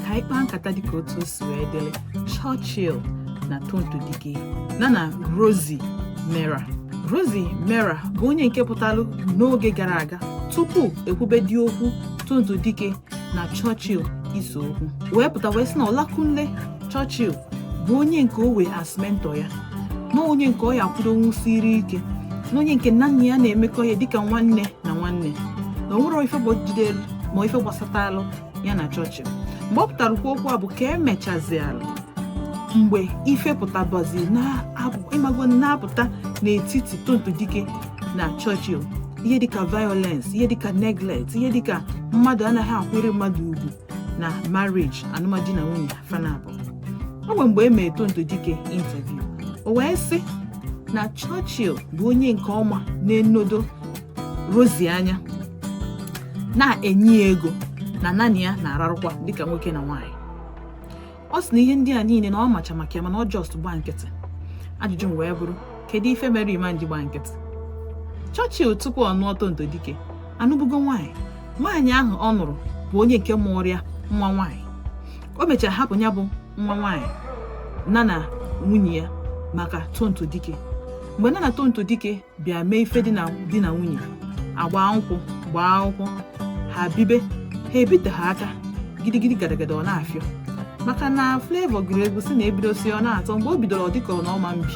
ka anyị kpaa nkata dịka otu o si wee dịrị Churchill na Tonto Dikeh na na Rosy Meurer Rosy Meurer bụ onye nke pụtalụ n'oge gara aga tupu e kwubedị okwu Tonto Dikeh na Churchill ise okwu wee pụta wee sị na Olakunle Churchill bụ onye nke o we as mentor ya na onye nke ọ ya-akwudonwusiri ike na onye nke nya na ya na-emekọ ya dịka nwanne na nwanne na o nwere ife bụ jidelu ma ife gbasatalụ ya na Churchill mgbe ọ pụtara kwuo okwu a bụ ka emechazialụ mgbe ife pụtabazi ị mago na-apụta n'etiti Tonto Dikeh na Churchill ihe dịka violence ihe dịka neglect ihe dịka mmadụ anaghị akwanyere mmadụ ugwu na marriage alụmdi na nwunye fa naabọ ọ bụ mgbe e mere Tonto Dikeh interview o wee sị na Churchill bụ onye nke ọ ma na-enodo Rosy anya na-enye ya ego na nya na ya na-ararụkwa dịka nwoke na nwaanyị ọ sị na ihe ndị a niile na ọ macha maka ya mana ọ just gba nkịtị ajụjụ m wee bụrụ kedu ife mere ị ma ji gba nkịtị Churchill tupu ọ nụọ Tonto Dikeh anụbugo nwaanyị nwaanyị ahụ ọ nụrụ bụ onye nke mụrụ ya nwa nwaanyị o mechara hapụ ya bụ nwa nwaanyị na na nwunye ya maka Tonto Dikeh mgbe nya na Tonto Dikeh bịa mee ife di na nwunye agba nkwụ gbaa akwụkwọ ha bibe ha ebiteghị aka gidigidi gadagada ọ na-afịọ maka na Flavour gụrụ egwu sị na ebidosi ọ na-atọ mgbe o bidoro ọ dịka ọ na ọ ma mbi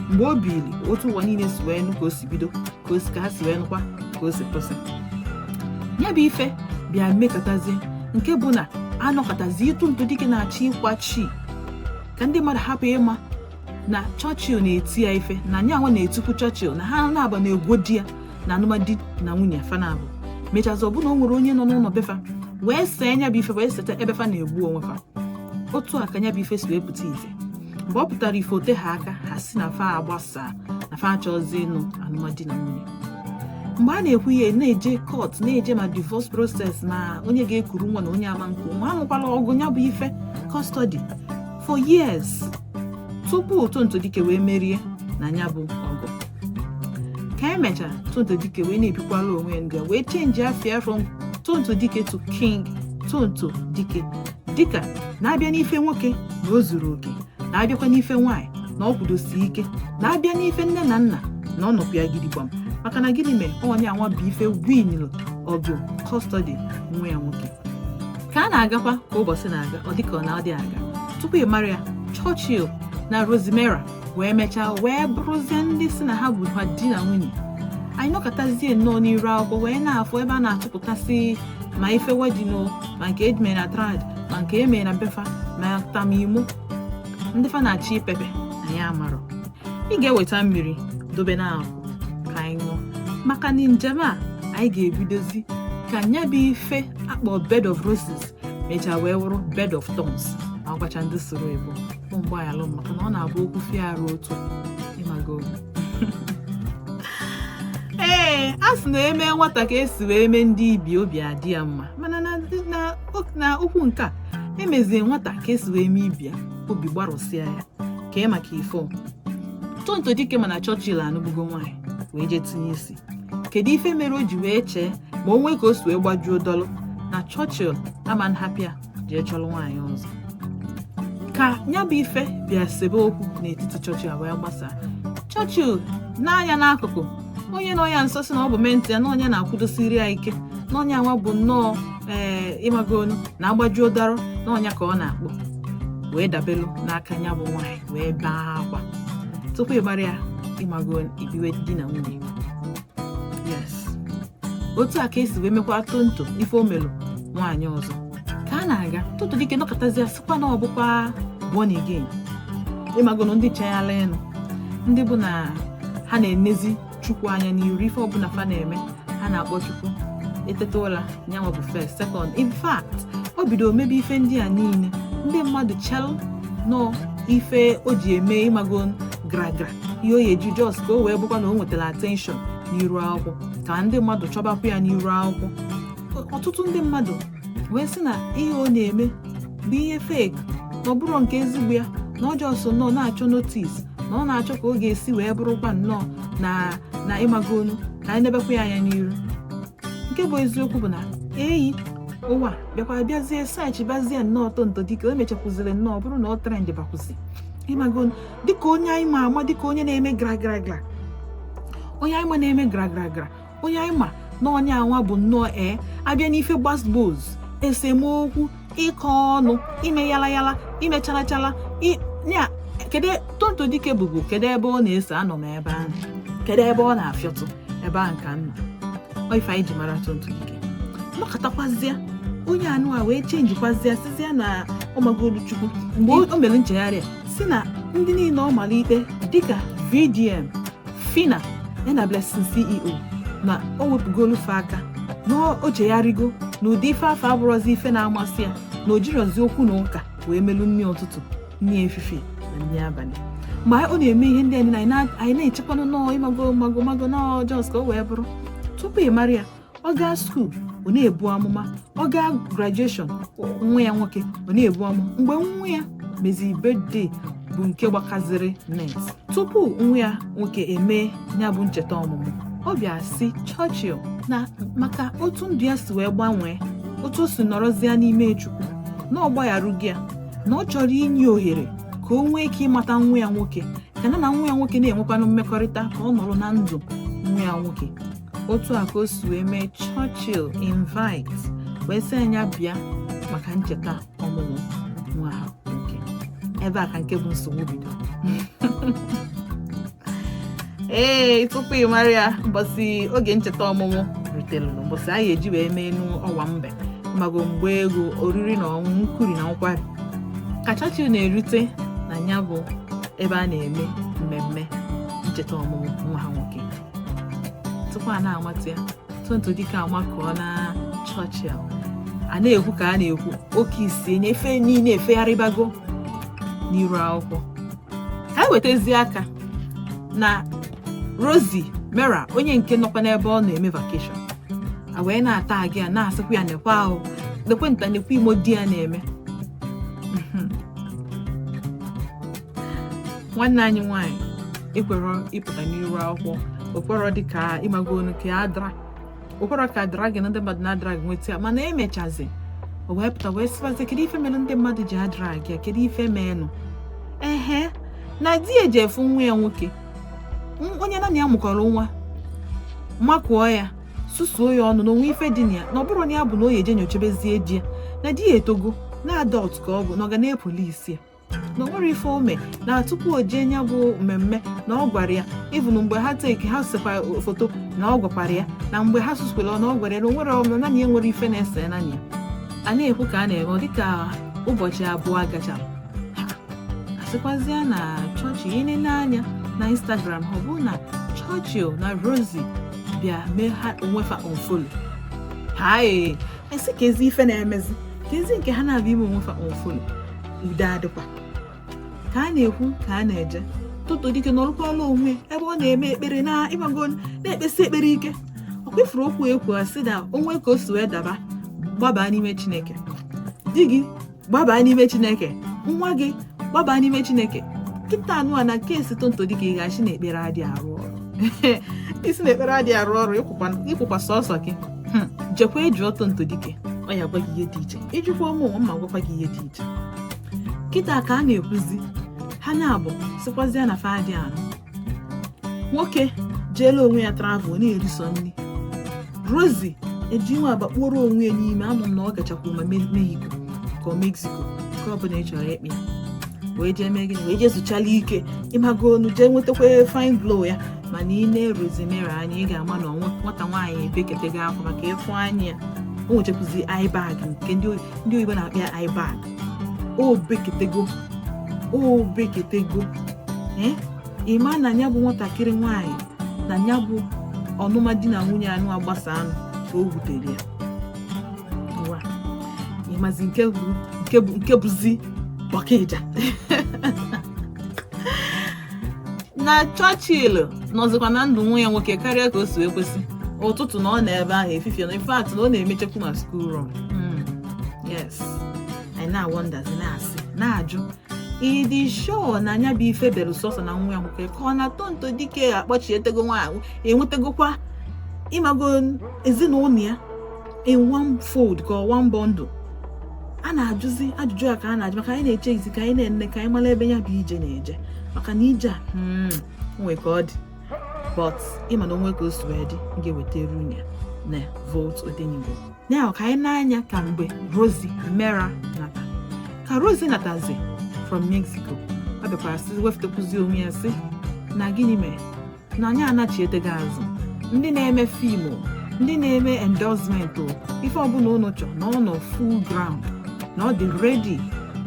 mgbe o biri otu ụwa niile si wee nụ ka o si bido ka o si ka ha si wee nụkwa ka o si kwụsị ya bụ ife bịa mekatazie nke bụ na a nọkatazi Tonto Dikeh na-achọ ịkwachi ka ndị mmadụ hapụ ịma na Churchill na-eti ya ife na nyanwa na-etikwu Churchill na ha naabọ na-egwo di ya na alụmdi na nwunye fa naabọ mechazị ọbụna o nwere onye nọ n'ụlọ befa wee see nya bụ ife wee seta ebe fa na-egbu onwe fa otu a ka nya bụ ife si wee pụta ife mgbe ọ pụtara ife o teghị aka ha sị na fa agbasaa na fa achọzi ịnụ alụmdi na nwunye mgbe a na-ekwu ihe na-eje court na-eje ma divorce process ma onye ga-ekuru nwa na onye ama nku nwa anụkwala ọgụ ya bụ ife custody for years tupu Tonto Dikeh wee merie na nya bụ ọgụ ka emechara Tonto Dikeh wee na-ebikwala onwe ya nya wee change afa ya from Tonto Dikeh to King Tonto Dikeh dịka na a bịa n'ife nwoke na o zuru oke na a bịakwa n'ife nwaanyị na ọ kwudosi ike na a bịa n'ife nne na nna na ọ nọkwu ya gidigbam maka na gịnị mere ọ nyanwa bụ ife winil ọgụ custody nwa ya nwoke ka a na-agakwa ka ụbọchị na-aga ọ dịka ọ na-adị aga tupu ị mara ya Churchill na Rosy Meurer wee mechaa wee bụrụzie ndị sị na ha bụ ha di na nwunye anyị nọkọtazie nnọọ n'iru akwụkwọ wee na-afụ ebe a na-atụpụtasị ma ife wedding o ma nke e ji mee na trad ma nke e mere na be fa ma tamimo ndị fa na-achọ ipepe anyị amarọ ị ga-eweta mmiri dobe n'akụkụ ka anyị ṅụọ maka na njem a anyị ga-ebidozi ka nya bụ ife a kpọ bed of roses mechaa wee wụrụ bed of thorns ma gwacha ndị soro ebo mgbe anyị alụ maka na ọ na-abụ okwu fie arụ otu ịmago ee a sị na e mee nwata ka esi wee mee ndị ibe obi adị ya mma mana na okwu nke a emezie nwata ka esi wee mee ibe ya obi gbarụsịa ya kee maka ife Tonto Dikeh ma na Churchill anụgbugo nwaanyị wee jee tinye isi kedu ife mere o ji wee chee ma o nwee ka o si wee gbajuo dọlụ na Churchill ama nhapụ ya jee chọrọ nwaanyị ọzọ ka ya bụ ife bịa sebe okwu n'etiti Churchill wee gbasaa Churchill n'anya n'akụkụ onye nọ ya nso sị na ọ bụ mentee ya na onye na-akwụdosiri ya ike na onye anwa bụ nnọọ ee eh, ịmagonu na agbaju ụdara na ọ nya ka ọ na-akpọ wee dabelu n'aka ya bụ nwaanyị wee bee akwa tupu ịgbara ya ịmago ibiwe di na nwunye yes otu a ka esi wee mekwa Tonto ife o melu nwaanyị ọzọ ka a na-aga Tonto Dikeh nọkọtazia sịkwa na ọ bụkwa born again ịmagonu ndị chayala ịnụ ndị bụ na ha na-enezi chukwu anya n'iru ife ọbụla fa na-eme ha na-akpọ chukwu eteta ụla nyanwa bụ first second in fact o bido mebe ife ndị a niile ndị mmadụ chelu n'ọ ife o ji eme ịmago gragra ihe o ji just ka o wee bụkwa na o nwetara attention n'iru akwụkwọ ka ndị mmadụ chọbakwa ya n'iru akwụkwọ ọtụtụ ndị mmadụ wee sị na ihe ọ na-eme bụ ihe fake na ọ bụrọ nke ezigbo ya na ọ just nọ na-achọ notice na ọ na-achọ ka ọ ga-esi wee bụrụkwa nnọọ na na ịmagonu ka anyị nebekwa ya anya n'iru nke bụ eziokwu bụ na eyi ụwa bịakwa bịazie search bazie nnọọ Tonto Dikeh o mechakwuziri nnọọ bụrụ na ọ trend bakwụzi ịmago dịka onye anyị ma ama dịka onye na-eme gra gra gra onye anyị ma na-eme gra gra gra onye anyị ma na onye anwa bụ nnọọ ee a bịa n'ife gbasgbos esemokwu ịkọ ọnụ ime yala yala ime chala chala ya kedu Tonto Dikeh bụbu kedu ebe ọ na-ese anọ m ebe ahụ kedu ebe ọ na-afịọtụ ebe ahụ ka nna ife anyị ji mara Tonto Dikeh nọkọtakwazie onye anwa wee chenjikwazie sizie na ọ magolu chukwu mgbe o mere nchegharị sị na ndị niile ọ mara ikpe dịka VDM Phyna ya na blessing ceo na o wepụgolu fa aka na o chegharịgo na ụdị ife afụ abụrọzi ife na-amasị ya na o jirọzi okwu na ụka wee melu nri ụtụtụ nri efifie na nri abalị ma ọ na-eme ihe ndị a niine anyị na-echekwanụ na ọ ịmago ịmago na ọ just ka o wee bụrụ tupu ị mara ya ọ gaa school ọ na-ebu amụma ọ gaa graduation nwa ya nwoke ọ na-ebu amụma mgbe nwa ya meziri birthday bụ nke gbakaziri net tupu nwa ya nwoke emee ya bụ ncheta ọmụmụ ọ bịa sị Churchill na maka otu ndụ ya si wee gbanwee otu o si nọrọzie n'ime Chukwu na ọ gbagharugo ya na ọ chọrọ inye ohere ka o nwee ike ịmata nwa ya nwoke ka nya na nwa ya nwoke na-enwekwanụ mmekọrịta ka ọ nọrọ na ndụ nwa ya nwoke otu a ka o si wee mee Churchill invite wee sị ya nya bịa maka ncheta ọmụmụ nwa ha nwoke ebe a ka nke bụ nsogbu bido ee tupu ị mara ya mbọsị oge ncheta ọmụmụ rutere mbọsị a ya-eji wee meenụ owambe ịmago mgbe egwu oriri na ọṅụṅụ nkwuri na nkwari ka Churchill na-erute na ya bụ ebe a na-eme mmemme ncheta ọmụmụ nwa ha nwoke tupu a na-amata ya Tonto Dikeh amakụọna Churchill a na-ekwu ka a na-ekwu oke isi enye ife niile efegharịbago n'iru akwụkwọ ka anyị wetazie aka na Rosy Meurer onye nke nọkwa n'ebe ọ na-eme vacation a wee na-atag ya na-asịkwa ya nekwanụ nekwa nta nekwa imo di ya na-eme nwanne anyị nwanyị ekwerọ ịpụta n'iru akwụkwọ o kwerọ dịka ịmagonụ ka dra o kwerọ ka dragging a ndị mmadụ na-adrag ya nweta ya mana e mechazi o wee pụta wee sịbazi kedu ife mere ndị mmadụ ji adrag ya kedu ife meenụ ehe na di ya jee fụ nwa ya nwoke onye nya na ya mụkọrọ nwa makụọ ya susuo ya ọnụ na o nwe ife dị na ya na ọ bụrụ na ya bụ na ọ ya-eje nyochebezie di ya na di ya etogo na adult ka ọ bụ na ọ ga na-apolice ya na o nwerọ ife o me na tupu o jee nya bụ mmemme na ọ gwara ya even mgbe ha take ha sekwa foto na ọ gwakwara ya na mgbe ha susukwara na ọ gwara ya na o nwere ọmụ nya na ya nwerọ ife na-ese nya na ya a na-ekwu ka a na-eme ọ dịka ụbọchị abụọ gacha a sịkwazịa na Churchill ihe nile anya na instagram ọ bụ na Churchill na Rosy bịa mee ha onwe fa unfollow ha ee a sị keezi ife na-emezi keezi nke ha na-abịa ime onwe fa unfollow udo adịkwa ka a na-ekwu ka a na-eje Tonto Dike nọlụkwala onwe ebe ọ na-eme ekpere na ịmago na-ekpesi ekpere ike ọ kwefuru okwu ekwu sị na o nwe ka o si wee daba gbaba n'ime chineke di gị gbaba n'ime chineke nwa gị gbaba n'ime chineke kịta anụ a na nke esi Tonto Dike ị ga-asị na ekpere adị arụ ọrụ ị sị na ekpere adị arụ ọrụ ị kwụkwa sọsọ gị hmm. jekwa jụọ Tonto Dike ọ ya gwa gị ihe dị iche ị jụkwa mụnwa m agwakwa gị ihe dị iche kịta ka a na-ekwuzi ha naabọ sịkwazịa na fa adị anụ nwoke jeela onwe ya travel na-eriso nri Rosy eji iwe agbakpuru onwe ya n'ime anụ m na ọ gachakwu ma mehiko ka ọ mexico ka ọ bụla ị chọrọ ịkpọ ya wee jee mee gịnị wee jee zuchala ike ịmago onu jee nwetakwa fine glow ya mana i nee Rosy Meurer anya ị ga-ama na nwata nwaanyị ebeketego akwa maka ị fụ anya ya o nwechakwuzi eye bag nke ndị oyibo na-akpọ ya eye bag o beketego o beketego eh? ị ma na ya bụ nwatakịrị nwaanyị na ya bụ anụma di na nwunye anụ agbasa anụ ka o wutere ya ịmazi nke bụzi ọkaịja na Churchill nọzikwa na ndụ nwa ya nwoke karịa ka o si ekwesi ụtụtụ na ọ nọ ebe ahụ efifie na in fact na ọ na-emechakwu ma school run yes anyị na-awọndazi na-asị na-ajụ ị dị sure na nya bụ ife bere sọsọ na nwa ya nwoke ka ọ na Tonto Dike akpọchietego nwaanyị ewetegokwa ịmago ezinụlọ ya in one fold ka ọ one bundle a na-ajụzi ajụjụ a ka a na-ajụ maka anyị na-echezi ka anyị na-ene ka anyị mara ebe ya bụ ije na-eje maka na ije a hmm, nwe ka ọ dị but ị ma na o nwe ka o si wee dị m ga-ewetara unu ya na volt odenigbo ya ka anyị na-anya ka mgbe Rosy Meurer nata ka Rosy natazi from mexico ọ bịakwara sị wefụtakwuzi onwe ya sị na gịnị mere na nya anachietego azụ ndị na-eme film ndị na-eme endorsement ife ọbụla ụnụ chọ na ọ nọ full ground na ọ dị ready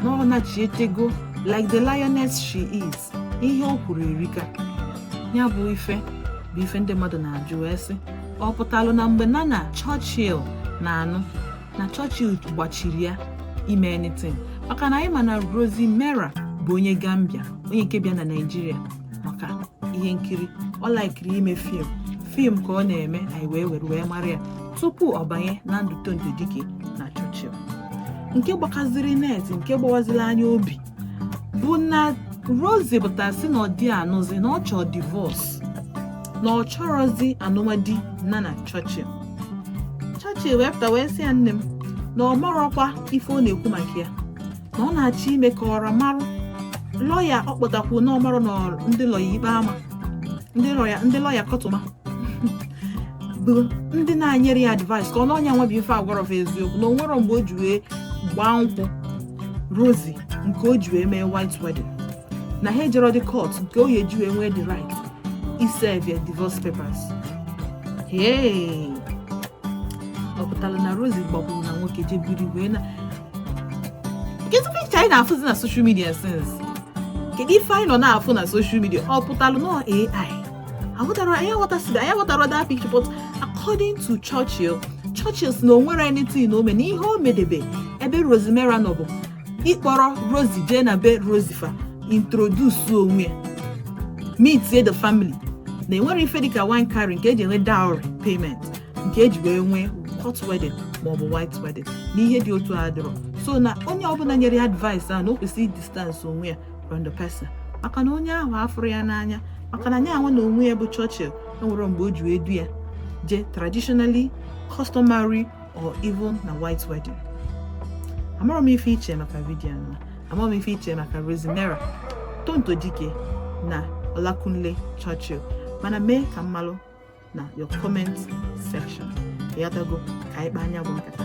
na ọ nachietego like the lioness she is ihe o kwuru erika ya bụ ife bụ ife ndị mmadụ na-ajụ wee sị ọ pụtalụ na mgbe na na Churchill na-anụ na Churchill gbachiri ya ime anything maka na anyị ma na Rosy Meurer bụ onye Gambia onye nke bịa na Naịjirịa maka ihe nkiri ọ laikiri ime film film ka ọ na-eme anyị wee were wee mara ya tupu ọ banye na ndụ Tonto Dike na Churchill nke gbakaziri net nke gbawaziri anyị obi bụ na Rosy pụtara sị na ọ dị anụzi na ọ chọọ divorce na ọ chọrọzi anụma di nya na Churchill Churchill wee pụta wee sị ya nne m na ọ marọkwa ife ọ na-ekwu maka ya na ọ na-achọ ime ka ọra marụ lọya ọ kpọtakwu na ọ marụ na ndị lọya ikpe ama ndị lọya kọtụma bụ ndị na-enyere ya advice ka ọ na onye anwa bụ ife agwarọ fa eziokwu na o nwerọ mgbe o ji wee gbaa nkwụ Rosy nke o ji wee mee white wedding na ha ejerọ dị court nke ọ ya-eji wee nwee the right iserve ya divorce papers ee ọ pụtara na Rosy gbagburu na nwoke jee biri wee na kedu picture anyị na-afụzi na social media since kedu ife anyị nọ na-afụ na social media ọ pụtalụ na anyị aghọtarọ anyị aghọtasịrọ anyị aghọtarọ that picture but according to Churchill Churchill sị na o nwerọ anything o mee na ihe o medebe ebe Rosy Meurer nọ bụ ịkpọrọ Rosy jee na be Rosy fa introduce onwe ya meet the family na enwerọ ife dịka wine carry nke eji enwe dowry payment nke eji wee nwee court wedding maọbụ white wedding na ihe dị otu a adịrọ so na onye ọbụla nyere ya advice a na o kwesịrị distance onwe ya from the person maka na onye ahụ afụrọ ya n'anya maka na ya nwa na onwe ya bụ Churchill enwerọ mgbe o ji wee du ya jee traditionally customary or even na white wedding amarọ m ife i che maka vidiyo anwa amarọ m ife i che maka Rosy Meurer Tonto Dikeh na Olakunle Churchill mana mee ka m malụ na your comment section ị ghọtago ka anyị kpaa ya bụ nkata